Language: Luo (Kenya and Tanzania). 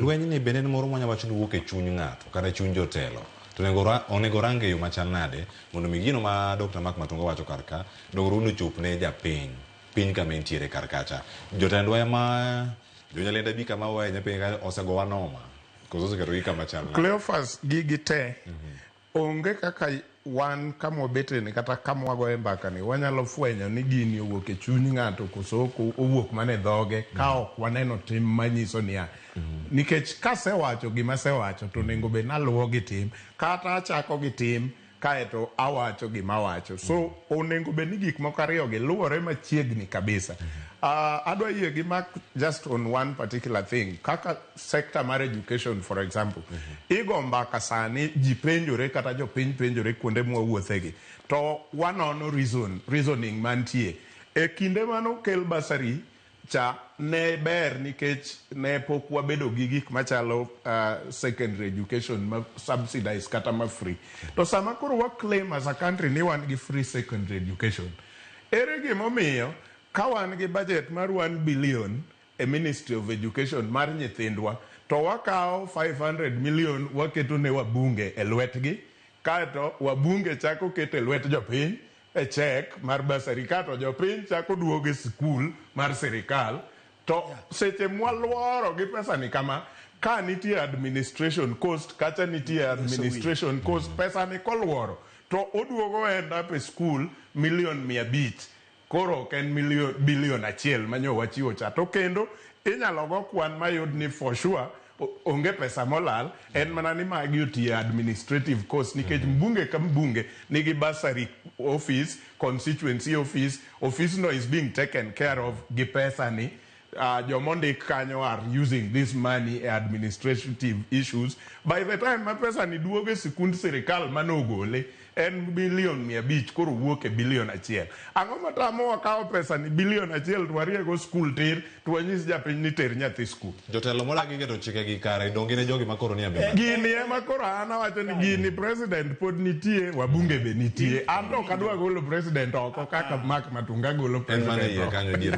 Lwenyni bende en moro mwanya wacho ni wuok e chuny ng'ato kata e chuny jotelo. To onego ra- onego orange e yo machal nade mondo mi gino ma Dr. Mark Matunga wacho kar ka dongruogno ochop ne japiny piny kama entiere kar kacha. Jotendwa ema jonyalenda abi kama waye nyapenye ka osegowa noma koso oseketogi kama chal nade. Cleophas gigi te Onge kaka wan kama wabeteni kata kama wagoye mbakani wanyalo fwenyo ni gini owuok e chuny ng'ato koso ok owuok mana e dhoge ka mm. ok waneno tim manyiso niya mm. nikech kasewacho gima asewacho to onego bed naluwo gi tim kata achako gi tim kaeto awacho gima awacho so mm. onego bed ni gik moko ariyogi luwore machiegni kabisa uh, adwa yie gi mak just on one particular thing kaka sector mar education for example mm -hmm. igo mbaka sani ji penjore kata jopiny penjore kuonde mwawuothegi to wanono reason, reasoning mantie e kinde manokel basari cha ne ber nikech ne pok wabedo gi gik machalo uh, secondary education ma subsidized kata ma free to sama koro wa claim as a country ni wan gi free secondary education ere gimomiyo ka wan gi budget mar 1 billion e ministry of education mar nyithindwa to wakawo five hundred million waketo ne wabunge e lwetgi kaeto wabunge chako keto e lwet jopiny e cheque mar bursary kaeto jopiny chako duogo e sikul mar sirikal to seche mwalworo gi pesani kama ka nitie administration cost kacha nitie administration cost pesani kolworo to oduogo end up e sikul million mia abich Koro ok en million, billion achiel ma nyo wachiwo cha. To kendo inyalo go kwan mayud ni for sure o- onge pesa molal, en mana ni magi otiye administrative cost nikech mbunge ka mbunge nigi bursary office, constituency office, office no is being taken care of gi pesa ni. Uh, joma ondik kanyo are using this money e administrative issues by the time ma pesa ni duogo e sikund sirikal mane ogole en bilion mia abich koro wuok e bilion achiel ang'o matamo wakawo pesa ni bilion achiel to wariego skul tir to wanyis japiny ni ter nyathi skul jotelo modagi keto chike gi kare donge ne jogi makoro ni abima gini ema koro an awacho ni gini president pod nitie wabunge be nitie an to ok adwa golo president oko kaka mak matunga golo en mana president iye oko kanyo dier